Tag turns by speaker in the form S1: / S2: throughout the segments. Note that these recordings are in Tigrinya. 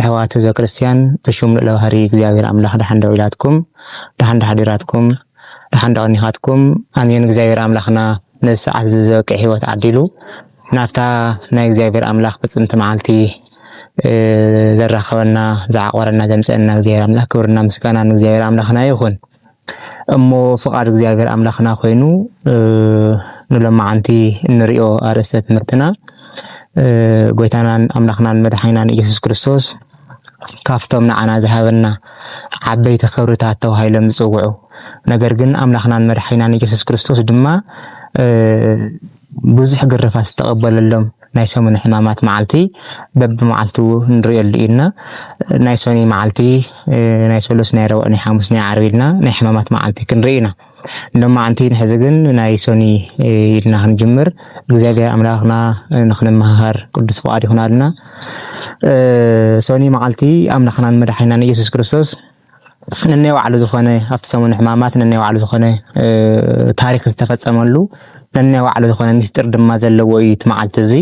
S1: ኣሕዋት ህዝበ ክርስትያን ብሹም ልኡለ ባህሪ እግዚኣብሔር ኣምላኽ ደሓን ዶ ዊላትኩም ደሓን ዶ ሓዲራትኩም ደሓን ዶ ኣኒኻትኩም ኣሜን እግዚኣብሔር ኣምላኽና ነዚ ሰዓት እዚ ዝበቅዕ ህይወት ዓዲሉ ናብታ ናይ እግዚኣብሔር ኣምላኽ ፍጽምቲ መዓልቲ ዘራኸበና ዝዓቆረና ዘምጽአና እግዚኣብሔር ኣምላኽ ክብርና ምስጋና ንእግዚኣብሔር ኣምላኽና ይኹን። እሞ ፍቃድ እግዚኣብሔር ኣምላክና ኮይኑ ንሎማዓንቲ እንሪኦ ኣርእስተ ትምህርትና ጎይታናን ኣምላክናን መድሓኒናን ኢየሱስ ክርስቶስ ካፍቶም ንዓና ዝሃበና ዓበይቲ ክብርታት ተባሂሎም ዝፅውዑ ነገር ግን ኣምላክናን መድሓኒናን ኢየሱስ ክርስቶስ ድማ ብዙሕ ግርፋት ዝተቐበለሎም ናይ ሰሙነ ሕማማት መዓልቲ በብመዓልቱ ንርእየሉ ኢልና ናይ ሰኑይ መዓልቲ ናይ ሰሉስ ናይ ረቡዕ ናይ ሓሙስ ናይ ዓርቢ ኢልና ናይ ሕማማት መዓልቲ ክንርኢ ኢና ሎማዓንቲ ንሕዚ ግን ናይ ሰኑይ ኢልና ክንጅምር እግዚኣብሔር ኣምላኽና ንክንመሃሃር ቅዱስ ፍቓድ ይኹናልና ሰኑይ መዓልቲ ኣምላኽናን መድሓኒናን ኢየሱስ ክርስቶስ ነናይ ባዕሉ ዝኾነ ኣብቲ ሰሙን ሕማማት ነናይ ባዕሉ ዝኾነ ታሪክ ዝተፈፀመሉ ነናይ ባዕሉ ዝኾነ ሚስጢር ድማ ዘለዎ እዩ እቲ መዓልቲ እዚ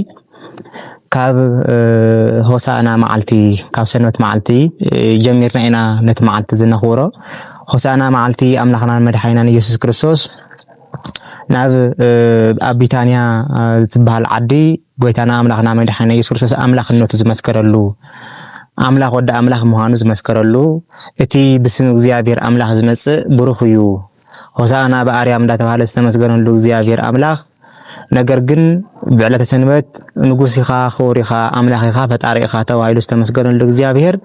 S1: ካብ ሆሳእና መዓልቲ ካብ ሰንበት መዓልቲ ጀሚርና ኢና ነቲ መዓልቲ እዚ ነኽብሮ ሆሳእና መዓልቲ ኣምላኽናን መድሓኒናን ኢየሱስ ክርስቶስ ናብ ኣብ ቢታንያ ዝትበሃል ዓዲ ጎይታና ኣምላኽና መድሓኒና ኢየሱስ ክርስቶስ ኣምላኽነቱ ዝመስከረሉ ኣምላኽ ወዲ ኣምላኽ ምዃኑ ዝመስከረሉ እቲ ብስም እግዚኣብሔር ኣምላኽ ዝመጽእ ብሩኽ እዩ ሆሳዕና ብኣርያም እንዳተባህለ ዝተመስገነሉ እግዚኣብሔር ኣምላኽ ነገር ግን ብዕለተ ሰንበት ንጉስ ኢኻ ክቡር ኢኻ ኣምላኽ ኢኻ ፈጣሪ ኢኻ ተባሂሉ ዝተመስገነሉ እግዚኣብሔር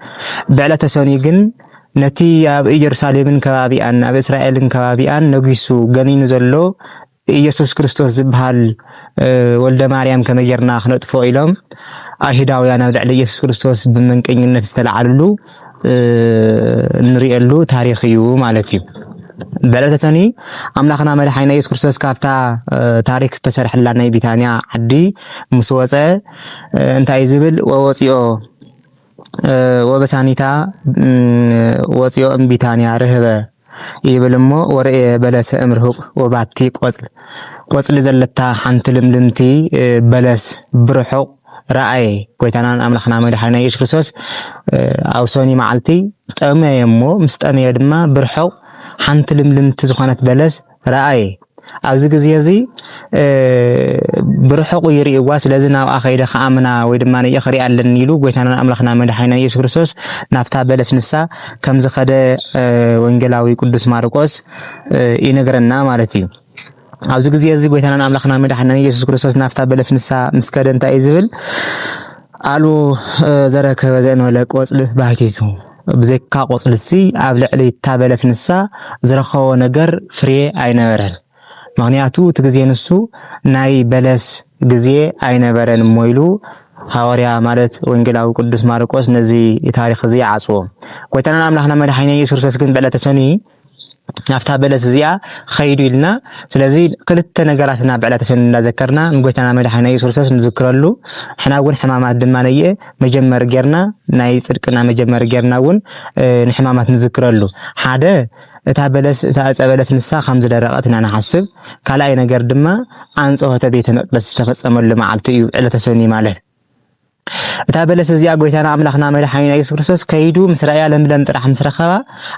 S1: ብዕለተ ሰኑይ ግን ነቲ ኣብ ኢየሩሳሌምን ከባቢኣን ኣብ እስራኤልን ከባቢኣን ነጊሱ ገኒኑ ዘሎ ኢየሱስ ክርስቶስ ዝበሃል ወልደ ማርያም ከመይ ጌርና ክነጥፍኦ ኢሎም ኣይሁዳውያን ኣብ ልዕሊ ኢየሱስ ክርስቶስ ብመንቀኝነት ዝተላዓልሉ እንሪኤሉ ታሪኽ እዩ ማለት እዩ። በዕለተ ሰኒ ኣምላኽና መድሓኒና ኢየሱስ ክርስቶስ ካብታ ታሪክ ዝተሰርሐላ ናይ ቢታንያ ዓዲ ምስ ወፀ እንታይ ዝብል ወወፂኦ ወበሳኒታ ወጽኦ እምቢታንያ ርህበ ይብል እሞ ወርእየ በለሰ እምርሁቅ ወባቲ ቆጽል ቆጽሊ ዘለታ ሓንቲ ልምልምቲ በለስ ብርሑቅ ረኣየ ጎይታናን ኣምላክና መድሓኒና ኢየሱስ ክርስቶስ ኣብ ሰኑይ መዓልቲ ጠመየ እሞ ምስ ጠመየ ድማ ብርሑቅ ሓንቲ ልምልምቲ ዝኮነት በለስ ረኣየ ኣብዚ ግዜ እዚ ብርሑቁ ይርእዋ ስለዚ ናብኣ ከይደ ከኣምና ወይ ድማ ነየ ክሪኣ ኣለኒ ኢሉ ጎይታና ኣምላኽና መድሓኒና ኢየሱስ ክርስቶስ ናብታ በለስ ንሳ ከም ዝኸደ ወንጌላዊ ቅዱስ ማርቆስ ይነግረና ማለት እዩ። ኣብዚ ግዜ እዚ ጎይታና ኣምላኽና መድሓኒና ኢየሱስ ክርስቶስ ናብታ በለስ ንሳ ምስ ከደ እንታይ እዩ ዝብል ኣልቦ ዘረከበ ዘእንበለ ቆጽሊ ባሕቲቱ ብዘይካ ቆጽሊሲ ኣብ ልዕሊ እታ በለስ ንሳ ዝረኸቦ ነገር ፍርየ ኣይነበረን ምኽንያቱ እቲ ግዜ ንሱ ናይ በለስ ግዜ ኣይነበረን እሞ ኢሉ ሃወርያ ማለት ወንጌላዊ ቅዱስ ማርቆስ ነዚ ታሪኽ እዚ ይዓጽዎ ጎይታናን ኣምላኽና መድሓኒና ኢየሱስ ክርስቶስ ግን ብዕለተ ሰኑይ ናብታ በለስ እዚኣ ኸይዱ ኢልና ስለዚ ክልተ ነገራት ኢና ብዕለተ ሰኑይ እንዳዘከርና ንጎይታና መድሓኒና ኢየሱስ ክርስቶስ ንዝክረሉ ሕና እውን ሕማማት ድማ ነየ መጀመሪ ጌርና ናይ ጽድቅና መጀመሪ ጌርና እውን ንሕማማት ንዝክረሉ ሓደ እታ በለስ እታ ዕፀ በለስ ንሳ ከም ዝደረቐት ኢና ንሓስብ። ካልኣይ ነገር ድማ ኣንጽሖተ ቤተ መቅደስ ዝተፈጸመሉ መዓልቲ እዩ ዕለተ ሰኑይ ማለት። እታ በለስ እዚኣ ጎይታና ኣምላኽና መድሓኒና ኢየሱስ ክርስቶስ ከይዱ ምስ ረኣያ ለምለም ጥራሕ ምስ ረኸባ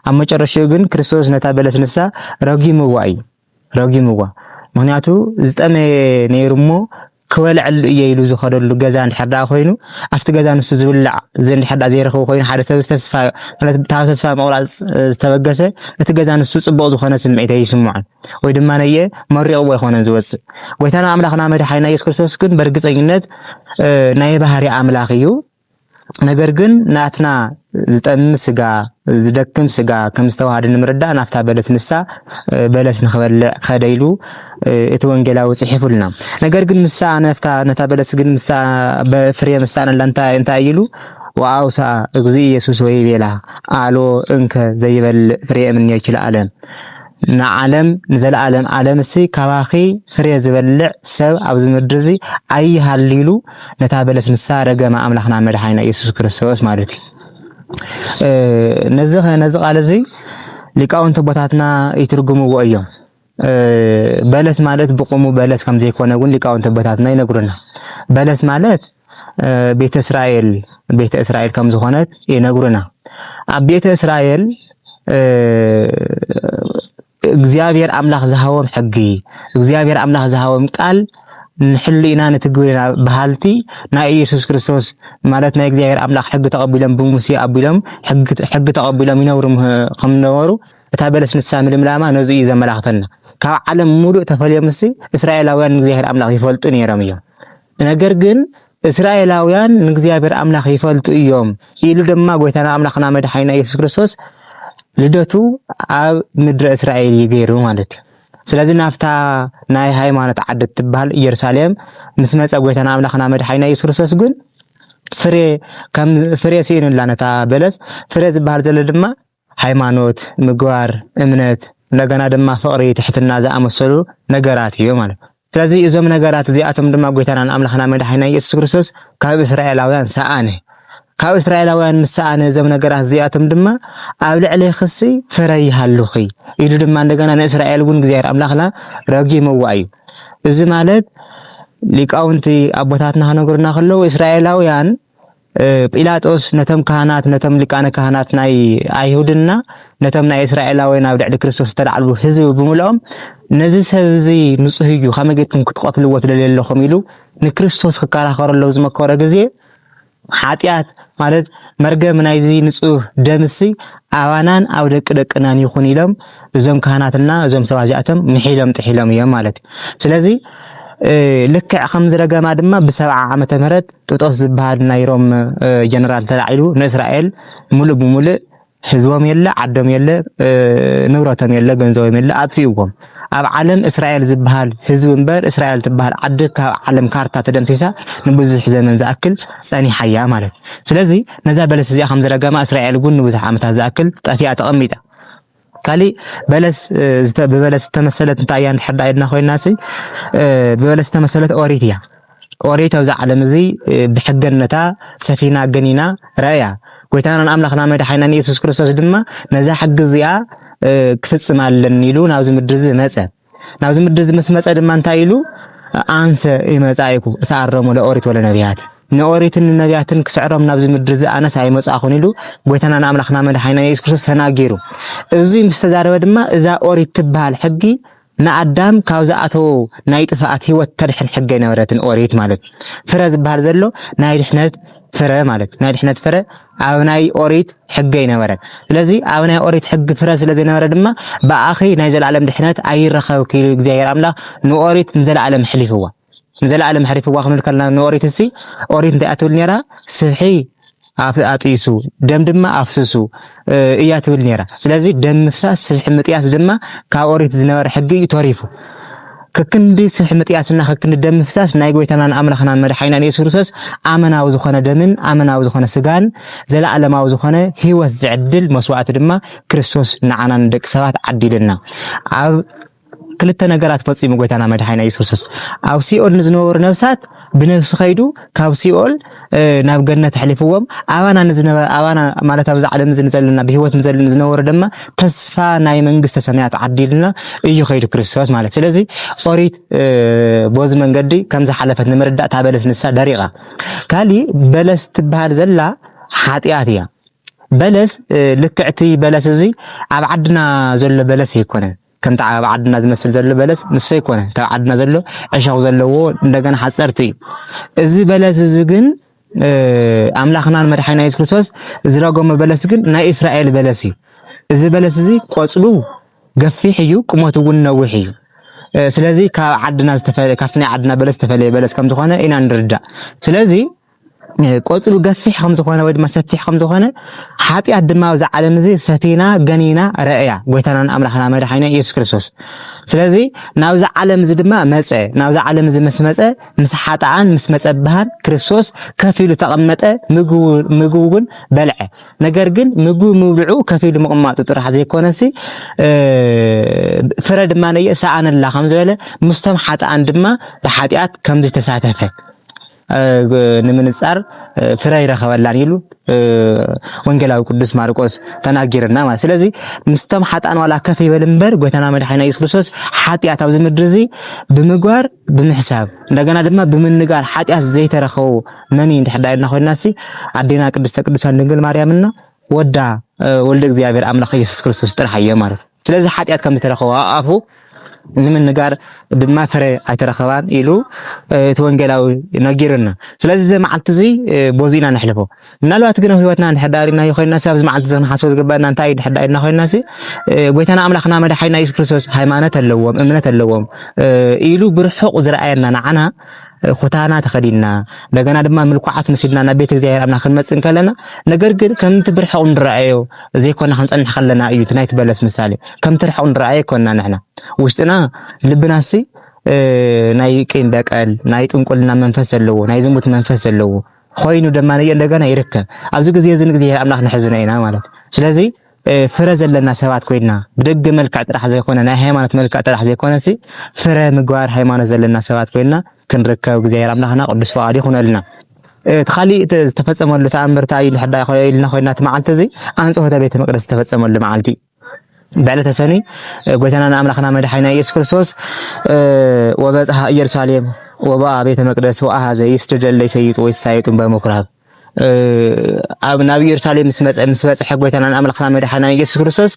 S1: ኣብ መጨረሽኡ ግን ክርስቶስ ነታ በለስ ንሳ ረጊምዋ እዩ ረጊምዋ ምክንያቱ ዝጠመየ ነይሩ እሞ ክበልዐሉ እየ ኢሉ ዝኸደሉ ገዛ እንድሕር ደኣ ኮይኑ ኣብቲ ገዛ ንሱ ዝብላዕ እንድሕር ደኣ ዘይረኽቡ ኮይኑ ሓደ ሰብ ዝተስፋ ማለት ካብ ተስፋ ምቑራፅ ዝተበገሰ እቲ ገዛ ንሱ ፅቡቕ ዝኾነ ስምዒት ኣይስምዖን ወይ ድማ ነየ መሪቕዎ ኣይኮነን ዝወጽእ። ጎይታና ኣምላኽና መድሓኒና ኢየሱስ ክርስቶስ ግን በርግጸኝነት ናይ ባህሪ ኣምላኽ እዩ። ነገር ግን ናትና ዝጠሚ ስጋ ዝደክም ስጋ ከም ዝተዋሃደ ንምርዳእ ናፍታ በለስ ንሳ በለስ ንክበልዕ ከደ ኢሉ እቲ ወንጌላዊ ጽሒፉልና። ነገር ግን ምሳ ነፍታ ነታ በለስ ግን ምሳ በፍሬ ምሳ ነላ እንታይ እንታይ ኢሉ ወአውሳ እግዚእ ኢየሱስ ወይ ቤላ አሎ እንከ ዘይበልዕ ፍሬ እምኔኪ ለዓለም ንዓለም ንዘለኣለም ኣለምሲ ካባኺ ፍሬ ዝበልዕ ሰብ ኣብዚ ምድርዚ ኣይሃሉ ኢሉ ነታ በለስ ንሳ ረገማ ኣምላኽና መድሓኒና ኢየሱስ ክርስቶስ ማለት እዩ። ነዚ ነዚ ቃል እዚ ሊቃውንቲ ቦታትና ይትርጉምዎ እዮም። በለስ ማለት ብቁሙ በለስ ከም ዘይኮነ እውን ሊቃውንቲ ቦታትና ይነግሩና። በለስ ማለት ቤተ እስራኤል ቤተ እስራኤል ከም ዝኾነት ይነግሩና። ኣብ ቤተ እስራኤል እግዚኣብሔር ኣምላኽ ዝሃቦም ሕጊ እግዚኣብሔር ኣምላኽ ዝሃቦም ቃል ንሕሉ ኢና ንትግብር ኢና በሃልቲ ናይ ኢየሱስ ክርስቶስ ማለት ናይ እግዚኣብሔር ኣምላኽ ሕጊ ተቐቢሎም ብሙሴ ኣቢሎም ሕጊ ተቐቢሎም ይነብሩ ከም ነበሩ እታ በለስ ንሳ ምልምላማ ነዚ እዩ ዘመላኽተና። ካብ ዓለም ሙሉእ ተፈልዮም ምስ እስራኤላውያን እግዚኣብሔር ኣምላኽ ይፈልጡ ነይሮም እዮም። ነገር ግን እስራኤላውያን ንእግዚኣብሔር ኣምላኽ ይፈልጡ እዮም ኢሉ ድማ ጎይታና ኣምላኽና መድሓኒና ኢየሱስ ክርስቶስ ልደቱ ኣብ ምድረ እስራኤል እዩ ገይሩ ማለት እዩ። ስለዚ ናፍታ ናይ ሃይማኖት ዓዲ እትበሃል ኢየሩሳሌም ምስ መጸ ጎይታና ኣምላኽና መድሓኒና ኢየሱስ ክርስቶስ ግን ፍሬ ከም ፍሬ ስኢኑላ ነታ በለስ ፍሬ ዝበሃል ዘሎ ድማ ሃይማኖት፣ ምግባር፣ እምነት፣ እንደገና ድማ ፍቕሪ፣ ትሕትና ዝኣመሰሉ ነገራት እዮም ማለት እዩ። ስለዚ እዞም ነገራት እዚኣቶም ድማ ጎይታናን ኣምላኽና መድሓኒና ኢየሱስ ክርስቶስ ካብ እስራኤላውያን ሰኣነ። ካብ እስራኤላውያን ምስ ሰኣነ እዞም ነገራት እዚኣቶም ድማ ኣብ ልዕሌኽሲ ፍረ ይሃሉኺ ኢሉ ድማ እንደገና ንእስራኤል እውን እግዚኣብሔር ኣምላኽና ረጊምዋ እዩ። እዚ ማለት ሊቃውንቲ ኣቦታትና ክነግሩና ከለዉ እስራኤላውያን ጲላጦስ ነቶም ካህናት ነቶም ሊቃነ ካህናት ናይ ኣይሁድና ነቶም ናይ እስራኤላውያን ኣብ ልዕሊ ክርስቶስ ዝተላዕሉ ህዝቢ ብምልኦም ነዚ ሰብ እዚ ንጹህ እዩ ከመይ ጌርኩም ክትቐትልዎ ትደልዩ ኣለኹም ኢሉ ንክርስቶስ ክከራኸረሎም ዝመከሮ ግዜ ሓጢኣት ማለት መርገም ናይዚ ንጹህ ደምሲ ኣባናን ኣብ ደቂ ደቅናን ይኹን ኢሎም እዞም ካህናትና እዞም ሰባት እዚኣቶም ምሒሎም ጥሒሎም እዮም ማለት እዩ። ስለዚ ልክዕ ከም ዝረገማ ድማ ብሰብዓ ዓመተ ምህረት ጥጦስ ዝብሃል ናይ ሮም ጀነራል ተላዒሉ ንእስራኤል ሙሉእ ብሙሉእ ህዝቦም የለ ዓዶም የለ ንብረቶም የለ ገንዘቦም የለ ኣጥፊኡዎም። ኣብ ዓለም እስራኤል ዝበሃል ህዝቢ እምበር እስራኤል ትበሃል ዓዲ ካብ ዓለም ካርታ ተደምሲሳ ንብዙሕ ዘመን ዝኣክል ጸኒሓ እያ ማለት ስለዚ ነዛ በለስ እዚኣ ከም ዝረገማ እስራኤል እውን ንብዙሕ ዓመታት ዝኣክል ጠፊኣ ተቐሚጣ ካሊእ በለስ ብበለስ ዝተመሰለት እንታይ እያ እንድሕር ዳኣ ኢልና ኮይናሲ ብበለስ ዝተመሰለት ኦሪት እያ። ኦሪት ኣብዚ ዓለም እዚ ብሕገነታ ሰፊና ገኒና ረእያ ጎይታናን ኣምላኽና መድሓኒናን ኢየሱስ ክርስቶስ ድማ ነዛ ሕጊ እዚኣ ክፍጽም ኣለኒ ኢሉ ናብዚ ምድሪ እዚ መጸ። ናብዚ ምድሪ እዚ ምስ መጸ ድማ እንታይ ኢሉ ኣንሰ ይመጻኢኩ እሰኣረሙ ለኦሪት ወለነቢያት ንኦሪትን ንነቢያትን ክስዕሮም ናብዚ ምድሪ እዚ ኣነስ ኣይመጻኹን ኢሉ ጎይታና ንኣምላኽና መድሓኒና ኢየሱስ ክርስቶስ ተናጊሩ እዚ ምስ ተዛረበ ድማ እዛ ኦሪት ትበሃል ሕጊ ንኣዳም ካብ ዝኣተዎ ናይ ጥፍኣት ህይወት ተድሕን ሕገ ነበረትን ኦሪት ማለት ፍረ ዝበሃል ዘሎ ናይ ድሕነት ፍረ ማለት ናይ ድሕነት ፍረ ኣብ ናይ ኦሪት ሕገ ኣይነበረን። ስለዚ ኣብ ናይ ኦሪት ሕጊ ፍረ ስለ ዘይነበረ ድማ ብኣኺ ናይ ዘለኣለም ድሕነት ኣይረኸብ ክኢሉ እግዚኣብሔር ኣምላኽ ንኦሪት ንዘለኣለም ሕሊፍዋ ንዘለኣለም ሕሪፍዋ ክንብል ከለና ንኦሪት እሲ ኦሪት እንታይ ኣትብል ነራ ስብሒ ኣጥይሱ ደም ድማ ኣፍስሱ እያ ትብል ነራ። ስለዚ ደም ምፍሳስ ስብሒ ምጥያስ ድማ ካብ ኦሪት ዝነበረ ሕጊ እዩ ተሪፉ። ከክንዲ ስብሒ ምጥያስና ከክንዲ ደም ምፍሳስ ናይ ጎይታናን ኣምላኽናን መድሓኒናን ኢየሱስ ክርስቶስ ኣመናዊ ዝኾነ ደምን ኣመናዊ ዝኾነ ስጋን ዘለኣለማዊ ዝኾነ ህይወት ዝዕድል መስዋእቲ ድማ ክርስቶስ ንዓና ንደቂ ሰባት ዓዲሉና ኣብ ክልተ ነገራት ፈጺሙ ጎይታና መድሓኒና ኢየሱስ ክርስቶስ ኣብ ሲኦል ንዝነበሩ ነፍሳት ብነብሲ ከይዱ ካብ ሲኦል ናብ ገነት ኣሕሊፍዎም ኣባና ንዝነበረ ኣባና ማለት ኣብዚ ዓለም እዚ ንዘለና ብሂወት ንዘለና ዝነበሩ ድማ ተስፋ ናይ መንግስተ ሰማያት ዓዲልና እዩ ከይዱ ክርስቶስ ማለት ስለዚ ኦሪት ቦዚ መንገዲ ከም ዝሓለፈት ንምርዳእ እታ በለስ ንሳ ደሪቓ ካሊእ በለስ ትበሃል ዘላ ሓጢኣት እያ በለስ ልክዕቲ በለስ እዚ ኣብ ዓድና ዘሎ በለስ ኣይኮነን ከምቲ ኣብ ዓድና ዝመስል ዘሎ በለስ ንሱ ኣይኮነ ካብ ዓድና ዘሎ ዕሾኽ ዘለዎ እንደገና ሓፀርቲ እዩ። እዚ በለስ እዚ ግን ኣምላኽናን መድሓኒና ኢየሱስ ክርስቶስ ዝረገሞ በለስ ግን ናይ እስራኤል በለስ እዩ። እዚ በለስ እዚ ቆፅሉ ገፊሕ እዩ፣ ቁመቱ እውን ነዊሕ እዩ። ስለዚ ካብ ዓድና ካብቲ ናይ ዓድና በለስ ዝተፈለየ በለስ ከምዝኾነ ኢና ንርዳእ። ስለዚ ቆጽሉ ገፊሕ ከም ዝኾነ ወይ ድማ ሰፊሕ ከም ዝኾነ ሓጢኣት ድማ ኣብዚ ዓለም እዚ ሰፊና ገኒና ረእያ ጎይታናን ኣምላኽና መድሓኒና ኢየሱስ ክርስቶስ ስለዚ ናብዚ ዓለም እዚ ድማ መጸ ናብዚ ዓለም እዚ ምስ መጸ ምስ ሓጣኣን ምስ መጸብሃን ክርስቶስ ከፍ ኢሉ ተቐመጠ ምግቡ እውን በልዐ ነገር ግን ምግቡ ምብልዑ ከፍ ኢሉ ምቕማጡ ጥራሕ ዘይኮነሲ ፍረ ድማ ነየ ሰኣነላ ከም ዝበለ ምስቶም ሓጣኣን ድማ ብሓጢኣት ከም ዝተሳተፈ ንምንጻር ፍረ ይረኸበላን ኢሉ ወንጌላዊ ቅዱስ ማርቆስ ተናጊርና ማለት ስለዚ ምስተም ሓጣን ዋላ ከፍ ይበል እምበር ጎይታና መድሓኒና ኢየሱስ ክርስቶስ ሓጢኣት ኣብዚ ምድሪ እዚ ብምግባር ብምሕሳብ እንደገና ድማ ብምንጋር ሓጢኣት ዘይተረኸቡ መን እዩ እንድሕዳ ኢልና ኮይናሲ ኣዴና ቅድስተ ቅዱሳን ድንግል ማርያምና ወዳ ወልደ እግዚኣብሔር ኣምላኽ ኢየሱስ ክርስቶስ ጥራሕ እየ ማለት ስለዚ ሓጢኣት ከም ዝተረኸቦ ኣፉ ንምንጋር ድማ ፍረ ኣይተረኸባን ኢሉ እቲ ወንጌላዊ ነጊሩና። ስለዚ እዚ መዓልቲ እዚ ቦዚ ኢና ነሕልፎ። ምናልባት ግን ኣብ ህይወትና እንድሕር ዳሪናዮ ኮይና ሲ ኣብዚ መዓልቲ እዚ ክንሓስቦ ዝግባና እንታይ እዩ ድሕር ዳሪና ኮይና ሲ ጎይታና ኣምላኽና መድሓኒና የሱስ ክርስቶስ ሃይማኖት ኣለዎም እምነት ኣለዎም ኢሉ ብርሑቕ ዝረኣየና ንዓና ኹታና ተኸዲንና እንደገና ድማ ምልኩዓት መሲልና ናብ ቤት እግዚኣብሔር ኣምላኽ ክንመጽእ እንከለና ነገር ግን ከምቲ ብርሕቕ ንረኣዮ ዘይኮና ክንጸንሕ ከለና እዩ እቲ ናይቲ በለስ ምሳሌ ከምቲ ርሕቕ ንረኣዮ ኮና ንሕና ውሽጥና ልብናሲ ናይ ቂም በቀል ናይ ጥንቁልና መንፈስ ዘለዎ ናይ ዝሙት መንፈስ ዘለዎ ኮይኑ ድማ እንደገና ይርከብ ኣብዚ ግዜ እዚ ንግዜ ኣምላኽ ንሕዝነ ኢና ማለት ስለዚህ ፍረ ዘለና ሰባት ኮይንና ብደገ መልክዕ ጥራሕ ዘይኮነ ናይ ሃይማኖት መልክዕ ጥራሕ ዘይኮነሲ ፍረ ምግባር ሃይማኖት ዘለና ሰባት ኮይንና ክንርከብ እግዚኣብሔር ኣምላኽና ቅዱስ ፍቓዱ ይኹነልና። እቲ ካሊእ እቲ ዝተፈፀመሉ ተኣምር እንታይ እዩ ድሕር ኢልና ኮይና እቲ መዓልቲ እዚ ኣንጽሖተ ቤተ መቅደስ ዝተፈፀመሉ መዓልቲ ብዕለተ ሰኑይ ጎይታና ንኣምላኽና መድሓኒና ኢየሱስ ክርስቶስ ወበጽሐ ኢየሩሳሌም ወበኣ ቤተ መቅደስ ወአኀዘ ይስደደለ ይሰይጡ ወይሳየጡ በምኵራብ ኣብ ናብ ኢየሩሳሌም ምስ መጸ ምስ በጽሐ ጎይታናን ኣምላኽና መድሓናን ኢየሱስ ክርስቶስ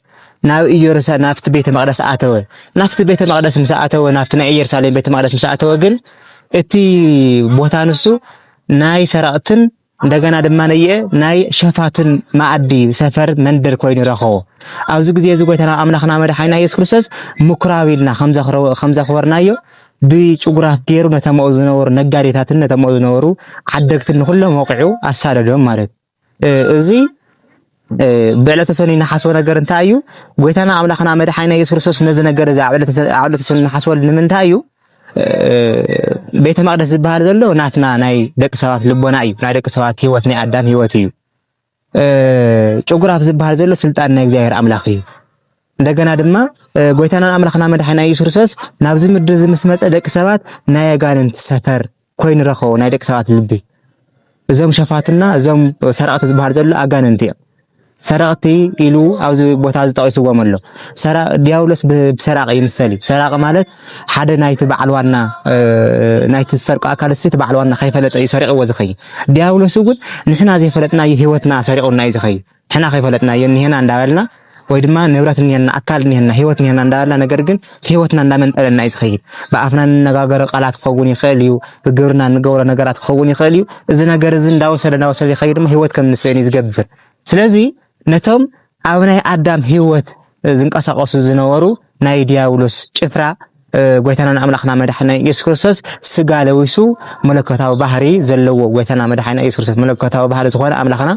S1: ናብ ኢየሩሳሌም ናብቲ ቤተ መቅደስ ኣተወ። ናብቲ ቤተ መቅደስ ምስ ኣተወ ናብቲ ናይ ኢየሩሳሌም ቤተ መቅደስ ምስ ኣተወ ግን እቲ ቦታ ንሱ ናይ ሰረቅትን እንደገና ድማ ነየ ናይ ሸፋትን ማዕዲ ሰፈር መንደር ኮይኑ ረኸቦ። ኣብዚ ግዜ እዚ ጎይታና ኣምላኽና መድሓኒና ኢየሱስ ክርስቶስ ምኩራብ ኢልና ከምዘኽበርናዮ ብጭጉራፍ ገይሩ ነቶም ኣብኡ ዝነበሩ ነጋዴታትን ነቶም ኣብኡ ዝነበሩ ዓደግትን ንኹሎም ወቂዑ ኣሳደዶም ማለት እዩ። እዚ ብዕለተ ሰኑይ ንሓስቦ ነገር እንታይ እዩ? ጎይታና ኣምላኽና መድሓኒና ኢየሱስ ክርስቶስ ነዚ ነገር እዚ ኣብ ዕለተ ሰኑይ ንሓስበሉ ንምንታይ እዩ? ቤተ መቅደስ ዝበሃል ዘሎ ናትና ናይ ደቂ ሰባት ልቦና እዩ። ናይ ደቂ ሰባት ህይወት ናይ ኣዳም ህይወት እዩ። ጭጉራፍ ዝበሃል ዘሎ ስልጣን ናይ እግዚኣብሔር ኣምላኽ እዩ። እንደገና ድማ ጎይታና ኣምላኽና መድሓና ኢየሱስ ክርስቶስ ናብዚ ምድሪ እዚ ምስ መጸ ደቂ ሰባት ናይ ኣጋንንቲ ሰፈር ኮይኑ ረኸቦ ናይ ደቂ ሰባት ልቢ። እዞም ሸፋትና እዞም ሰረቕቲ ዝበሃል ዘሎ ኣጋንንቲ እዮም። ሰረቕቲ ኢሉ ኣብዚ ቦታ እዚ ጠቒስዎም ኣሎ። ሰራ ዲያብሎስ ብሰራቂ ይምሰል እዩ። ሰራቂ ማለት ሓደ ናይቲ በዓል ዋና ናይቲ ዝሰርቀ ኣካል እሲ እቲ በዓል ዋና ከይፈለጠ እዩ ሰሪቕዎ ዝኸይ ዲያብሎስ እውን ንሕና ዘይፈለጥናዮ ህይወትና ሰሪቑና እዩ ዝኸይ ንሕና ከይፈለጥናዮ እኒሄና እንዳበልና ወይ ድማ ንብረት እኒሄና ኣካል እኒሄና ህይወት እኒሄና እንዳበልና ነገር ግን ህይወትና እንዳመንጠለና እዩ ዝኸይድ ብኣፍና እንነጋገሮ ቃላት ክኸውን ይኽእል እዩ ብግብርና እንገብሮ ነገራት ክኸውን ይኽእል እዩ እዚ ነገር እዚ እንዳወሰደ እንዳወሰደ ይኸይድ ድማ ህይወት ከም ንስእን እዩ ዝገብር ስለዚ ነቶም ኣብ ናይ ኣዳም ህይወት ዝንቀሳቐሱ ዝነበሩ ናይ ዲያብሎስ ጭፍራ ጎይታናን ኣምላኽና መድሓኒና ኢየሱስ ክርስቶስ ስጋ ለዊሱ መለኮታዊ ባህሪ ዘለዎ ጎይታና መድሓኒና ኢየሱስ ክርስቶስ መለኮታዊ ባህሪ ዝኾነ ኣምላኽና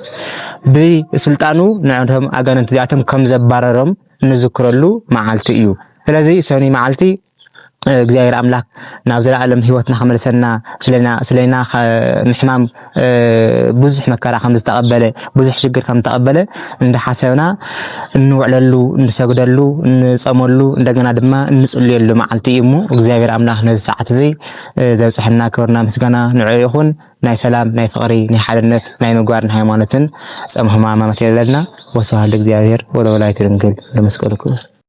S1: ብስልጣኑ ንዕቶም ኣጋንንቲ እዚኣቶም ከም ዘባረሮም እንዝክረሉ መዓልቲ እዩ። ስለዚ ሰኑይ መዓልቲ እግዚኣብሔር ኣምላክ ናብ ዘላኣለም ሂወትና ክመልሰና ስለና ምሕማም ብዙሕ መከራ ከምዝተቀበለ ብዙሕ ሽግር ከምዝተቀበለ እንዳሓሰብና እንውዕለሉ እንሰግደሉ እንፀመሉ እንደገና ድማ እንፅልየሉ መዓልቲ እዩ እሞ እግዚኣብሔር ኣምላክ ነዚ ሰዓት እዚ ዘብፅሐና ክብርና ምስጋና ንዑ ይኹን ናይ ሰላም ናይ ፍቅሪ ናይ ሓድነት ናይ ምግባርን ሃይማኖትን ፀም ህማማት የብለልና ወስብሐት ለእግዚኣብሔር ወለወላዲቱ ድንግል ለመስቀሉ ክቡር